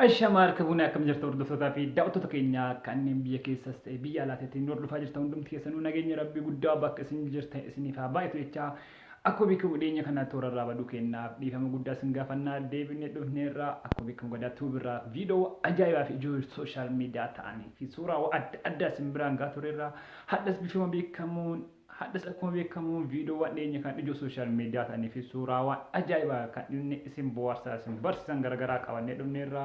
Ashamaa harka fuunee akkam jirtu hordoftootaa fi daawwattoota keenya kanneen biyya keessas ta'e biyya alaatiitiin nu hordofaa jirtan hundumti keessanuu nageenya rabbii guddaa bakka isin jirtan isiniif haa baay'atu jechaa akkuma beekamu dhiyeenya kana toora irraa baduu kennaaf dhiifama guddaa isin gaafannaa deebinee dhufneerraa akkuma beekamu gadaa tuubirraa viidiyoo ajaa'ibaa fi ijoo sooshaal miidiyaa ta'anii fi suuraa adda addaa isin biraan gaa tureerraa hadhas bifuma beekamuun Hadhas akkuma beekamu viidoowwan dhiyeenya kana ijoo sooshaal miidiyaa ta'anii fi suuraawaan ajaa'ibaa kan inni isin bohaarsaa isin barsiisan garagaraa qabannee dhufneerra.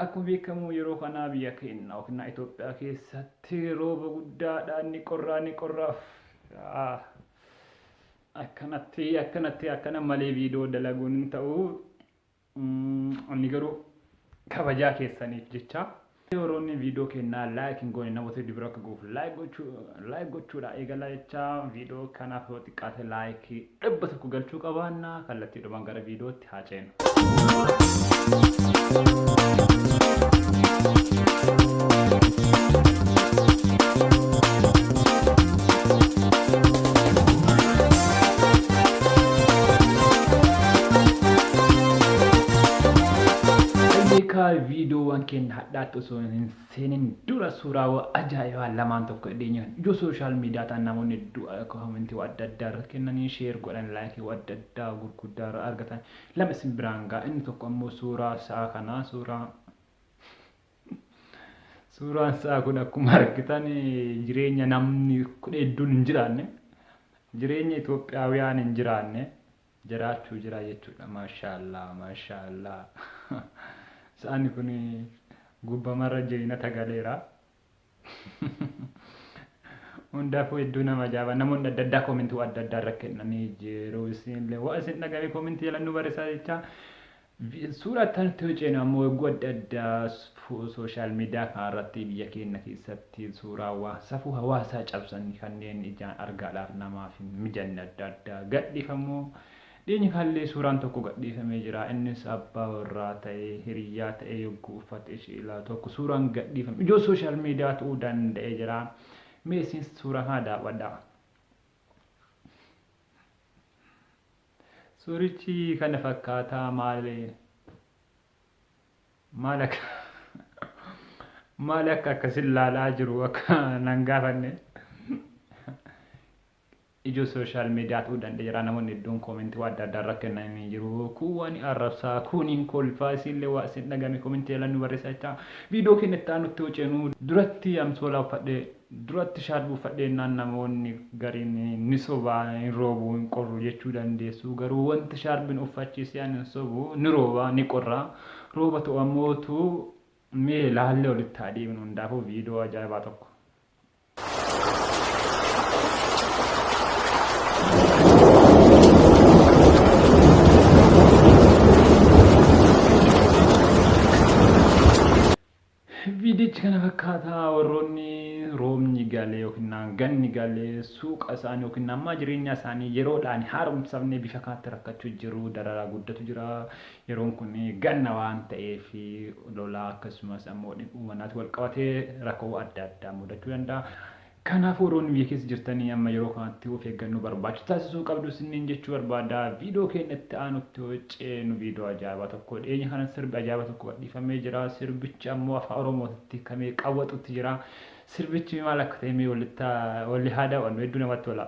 Akkuma beekamu yeroo kana biyya keenya yookiin Itoophiyaa keessatti rooba guddaadha inni qorraa inni qorraaf. Akkanatti akkanatti akkana malee viidoo dalaguun hin ta'u. Anni garuu kabajaa keessaniif jechaa. Warroonni viidoo kennaa like hin goone namoota heddu bira akka guuf like gochuudha eegalaa jechaa viidoo kanaaf yoo xiqqaate like dhibba tokko galchuu qabaanna kallattiidhumaan gara viidootti haa ceenu. Egaa viidiyoowwan keenya hadhaatti osoo hin seenin dura suuraawwan ajaa'ibaa lamaan tokko dhiyeenya ijoo sooshaal miidiyaa ta'an namoonni hedduu koomentii adda addaa irratti kennanii sheer godhan laayikii adda addaa gurguddaa irraa argatan lama isin biraan ga'a inni tokko ammoo suuraa sa'a kanaa suuraa Suuraan isaa kun akkuma argitan jireenya namni kudha hedduun hin jiraanne jireenya Itoophiyaawiyaan hin jiraanne jiraachuu jira jechuudha. Maashaallaa maashaallaa isaani kun gubbamarra jeenata galeera. Hundaafuu hedduu nama ajaa'iba. Namoonni adda addaa koomintii adda addaa irra kennanii jiru. Isinillee waan isin dhaga'ame koomintii jala nu barreessaa jecha. Suuraa itti yoo ceenu ammoo eeguu adda addaa sooshaal miidiyaa kanarratti biyya keenya keessatti suuraa safuu hawaasaa cabsan kanneen ijaan argaadhaaf namaaf hin mijanne adda addaa gadhiifamu. Dhiiyni kaallee suuraan tokko gadhiifamee jira. Innis abbaa warraa ta'ee, hiriyyaa ta'ee yogguu uffata ishee ilaalu tokko suuraan gadhiifame ijoo social media ta'uu danda'ee jira. Mee isiins suuraa kana daaw'adhaa. Suurichi kana fakkaata maal maal akka maal akka akkasin laalaa jiru akka nan gaafanne. ijoo social media ta'uu danda'eera namoonni hedduun comment waa adda addaa irra kennan ni jiru kuun waa ni arrabsa kuun hin kolfaa isiinillee waa isin dhagame comment jala nu barreessa jechaa video keenya itti aanutti yoo ceenu duratti amsoolaa uffadhe duratti shaarbi uffadhe jennaan namoonni gariin ni soba hin roobu hin qorru jechuu dandeessu garuu wanti shaarbin uffachiise ani hin sobu ni rooba ni qorra rooba ta'u ammootu mee laallee walitti haa deebinu hundaafuu video ajaa'ibaa tokko Viidichi kana fakkaataa warroonni roobni galee yookiin ganni galee suuqa isaanii yookiin ammaa jireenya isaanii yeroodhaan haaromsamne bifa kanatti rakkachuu jiru dararaa guddatu jira. Yeroon kun ganna waan ta'eef lolaa akkasumas ammoo dhibuu manaatti walqabatee rakkoo adda addaa mudachuu danda'a. Kanaafuu warroonni biyya keessa jirtanii amma yeroo kanatti of eeggannoo barbaachisu taasisuu qabdu isiniin jechuu barbaada. Viidoo keenya itti aanutti yoo ceenu viidoo ajaa'ibaa tokko dhiyeenya kana sirbi ajaa'ibaa tokko gadhiifamee jira. Sirbichi ammoo afaan oromootitti hiikamee qawwaxuutti jira. Sirbichi maal akka ta'e mee walitti haa walli haa daaw'annu hedduu namatti tola.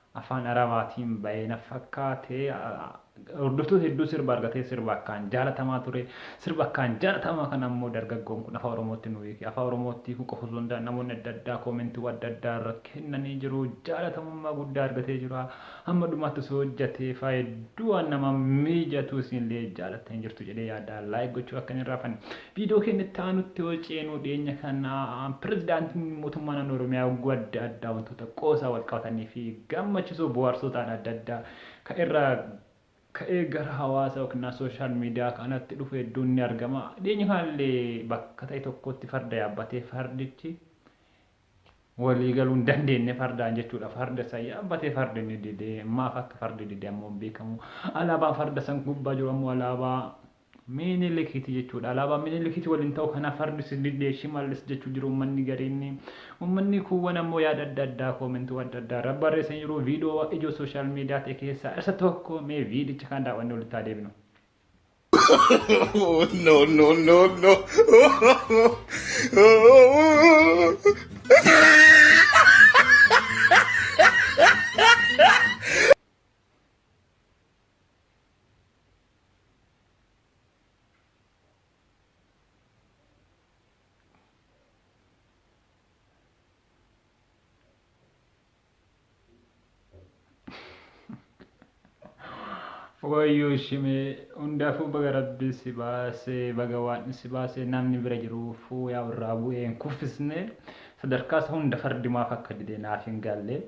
Afaan arabaatiin ba'ee na fakkaate hordoftoota hedduu sirba argatee sirba akkaan jaalatamaa ture sirba akkaan jaalatamaa kana ammoo dargaggoon kun afaa oromootti nu hiike afaa oromootti hiikuu qofa osoo hin taane namoonni adda addaa koomentii adda addaa irra kennanii jiru jaalatamummaa guddaa argatee jira hamma dhumaatti osoo hojjatee faa hedduu waan nama miijatu isinillee jaalattan jirtu jedhee yaada laayik gochuu akka hin irraafanne Viidiyoo keenya itti aanutti yoo ceenu dhiyeenya kana pirezidaantiin mootummaa naannoo Oromiyaa hogguu adda addaa wantoota qoosaan walqabatanii fi gammachisoo bohaarsoo ta'an adda addaa kan irraa ka'ee gara hawaasa yookiin sooshaal miidiyaa kanatti dhufu hedduun ni argama. Dhiyeenya kanallee bakka ta'e tokkotti farda yaabbatee fardichi walii galuu hin dandeenye fardaan jechuudha. Farda isaa yaabbatee fardi ni dide. Maaf akka fardi dide ammoo hin beekamu. Alaabaan farda san gubbaa jiru ammoo alaabaa Minilikiti jechuudha. Alaabaa Minilikiti waliin ta'uu kana fardi Sididee, Shimallis jechuu jiru ummanni gariin. Ummanni kuuwwan ammoo yaada adda addaa koomentuu adda addaa irra barreessanii jiru. Viidiyoo ijoo sooshaal miidiyaa ta'e keessaa isa tokko mee viidicha kana daawwannee walitti haa deebinu. no, no, no, no. Wayyoo shimee hundaafuu baga rabbi si baasee baga waan si baasee namni bira jiru fuuyaa irraa bu'ee hin kuffisne sadarkaas hunda fardimaaf akka dide naaf hin galle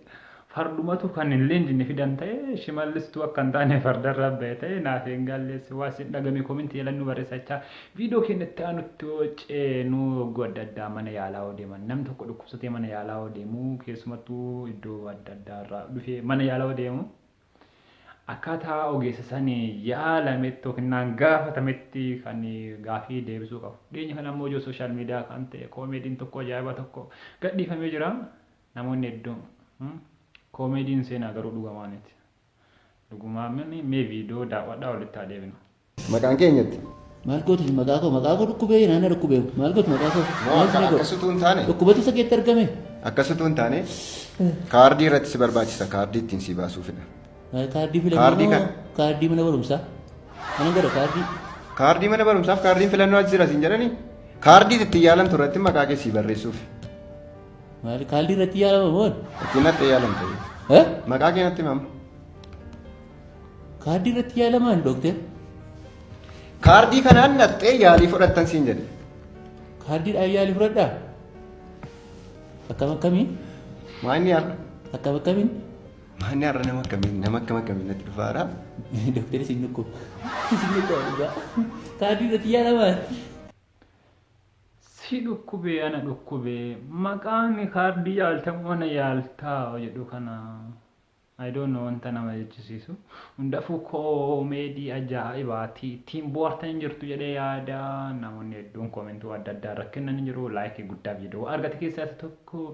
Fardumatu kan hin leenjine fidan ta'e shimallistuu akka hin taane fardarra bahe ta'e naaf hin galle siwaas hin dhagame kominti jalan nu barresaachaa video keenya itti aanutti yoo ceenu yogguu adda addaa mana yaalaa yoo deeman namni tokko dhukkubsatee mana yaalaa yoo deemu keessumattuu iddoo adda addaa irraa dhufee mana yaalaa yoo deemu akkaataa ogeessa sani yaalametti yookinnaan gaafatametti kan gaafii deebisuu qabu. Dhiyeenya kana ammoo ijoo sooshaal miidiyaa kan ta'e koomeediin tokko ajaa'ibaa tokko gadhiifamee jira. Namoonni hedduun comedy hin seenaa garuu dhugamaa miti. Dhugumaa mini mee video daawwadhaa walitti haa deebinu. Maqaan kee nyatte. Maal gooti maqaa koo maqaa koo dhukkubee naanna dhukkubee maal gooti maqaa koo Moo maal akka- na godhu? akkasituu hin taane? Dhukkubatu isa keetti argame. Akkasituu hin taane kaardii irratti si barbaachisa kaardii ittiin si baasuufidha. Eh, Kaardii filannoo Kaardii moo kan- kaardii mana barumsaa? Mana gara kaardii. Kaardii mana barumsaaf kaardiin filannoo as jira siin jedhanii kaardii ittiin yaalamtu irratti maqaa kee si barreessuuf. Maali kaaldii irratti yaalama boon? Ittiin natti yaalamte. Eh? Maqaa kee natti himama. Kaardii irratti yaalamaan dooktar. Kaardii kanaan naxxee yaalii fudhattan siin jedhe. Kaardiidhaan yaalii fudhadhaa? Akkam akkamii? Maa inni har'a? Akkam akkamiin? Maa inni har'a nama akkamiin nama akkam akkamiin natti dhufaara? Dooktar isin nukkoo. Isin nukkoo dhugaa. Kaardii irratti yaalamaan. Si dhukkubee ana dhukkubee maqaa mi kaardii yaaltamu ana yaaltaa jedhu kana I don't know wanta nama jechisiisu hundafuu koomeedii ajaa'ibaati ittiin bohaartan hin jirtu jedhee yaada namoonni hedduun koomentuu adda addaa irra kennan hin jiru laayikii guddaa viidiyoo argate keessaa isa tokko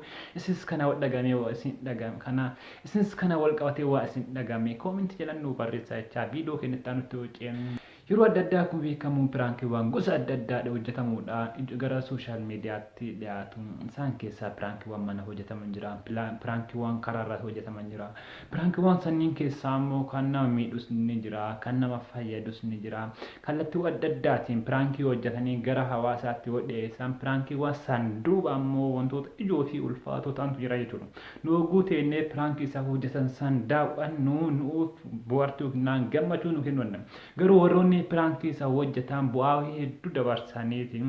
isinis kana wal dhagamee waa isin dhagame kana isinis kana wal qabatee waa isin dhagame koomentii jalan nuu barreessaa jechaa viidiyoo kennittaa nutti hojjeen Yeroo adda addaa akkuma beekamu piraankiiwwaan gosa adda addaadha hojjatamuudha gara social mediaatti dhiyaatu isaan keessaa piraankiiwwaan mana hojjataman jira piraankiiwwaan karaa irraa hojjataman jira piraankiiwwaan sanniin keessaa ammoo kan nama miidhus ni jira kan nama fayyadus ni jira kallattii adda addaatiin piraankii hojjatanii gara hawaasaatti yoo dhiyeessan piraankiiwwaan san duuba ammoo wantoota ijoo fi ulfaatoo ta'antu jira jechuudha Nu hogguu teennee prank isaa hojjatan san daaw'annu nu'uuf bohaartii yookiin naan gammachuu nu kennuun. Garuu warroonni prank isaa hojjatan bu'aa hedduu dabarsaniiti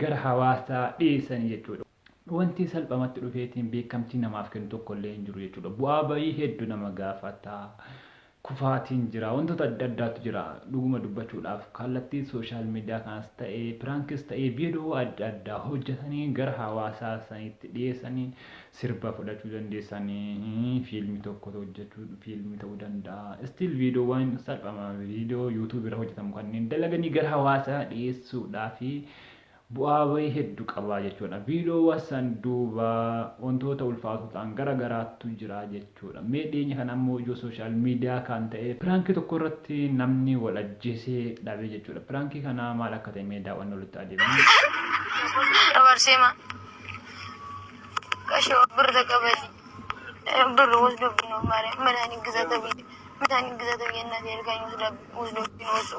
gara hawaasaa dhiyeessani jechuudha. Wanti salphamatti dhufeetiin beekkamtii namaaf kennu tokkollee hin jiru jechuudha. Bu'aa ba'ii heddu nama gaafata. kufaatiin jira wantoota adda addaatu jira dhuguma dubbachuudhaaf kallattii social media kanas ta'ee pirankis ta'ee viidiyoo adda addaa hojjatanii gara hawaasaa saniitti dhiyeessanii sirba fudhachuu dandeessanii fiilmi tokko hojjachuu fiilmi ta'uu danda'a still viidiyoo waan salphama viidiyoo yuutuubii irra hojjatamu kanneen dalaganii gara hawaasaa dhiyeessuudhaa fi bu'aa bahii heddu qaba jechuudha. Viidoowwan san duuba wantoota ulfaatoo ta'an gara garaattu jira jechuudha. Mee dhiyeenya kana ammoo ijoo social media kan ta'e piraankii tokko irratti namni wal ajjeesee dhabe jechuudha. Piraankii kana maal akka ta'e mee daaw'annee walitti haa deebinu. Dabarsema. Kashi obur da kabali. Obur wuz dubbi no mare. Mana ni giza tabi. Mana ni giza tabi enna der kan yuz dab wuz dubbi no su.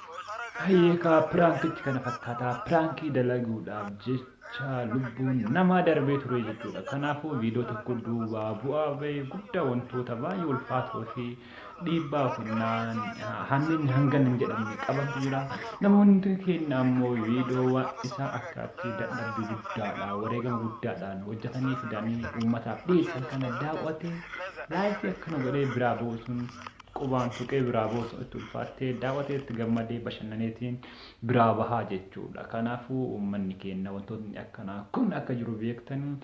Hayyee kaa piraankichi kana fakkaata piraankii dalaguudhaaf jecha lubbuun namaa darbee ture jechuudha kanaafuu viidiyoo tokko duubaa bu'aa ba'ee guddaa wantoota baay'ee ulfaatoo fi dhiibbaa funnaan hamminni hangana hin jedhamne qabantu jira namoonni keenya ammoo viidiyoowwan isaa akkaatti dadhabbii guddaadha wareegama guddaadhaan hojjetanii fidanii uummataaf dhiyeessan kana daaw'atee laayikii akkana godhee biraa bu'u sun qubaan tuqee biraa bahu osoo itti ulfaattee daawwatee itti gammadee bashannaneetiin biraa bahaa jechuudha. Kanaafuu uummanni keenya wantootni akkanaa kun akka jiru beektanii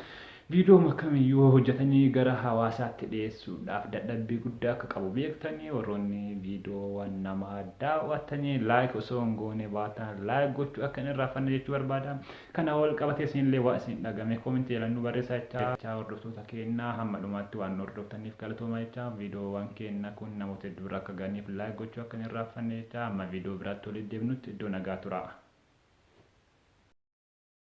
viidiyooma kamiyyuu hojjetanii gara hawaasaatti dhiyeessuudhaaf dadhabbii guddaa akka qabu beektanii warroonni viidiyoowwan namaa daawwattanii laayik osoo hin goone baataan laayik gochuu akka hin irraanfanne jechuu barbaada. Kana wal qabatee isinillee waan isin dhagame comment jalan nu barressa jechaa hordoftoota keenna hamma dhumaatti waan nu hordoftanniif galatooma jechaa viidoowwan keenna kun namoota hedduu bira akka ga'aniif like gochuu akka hin irraaffanne jechaa hamma viidoo biraatti waliit deebnutti iddoo nagaa turaa.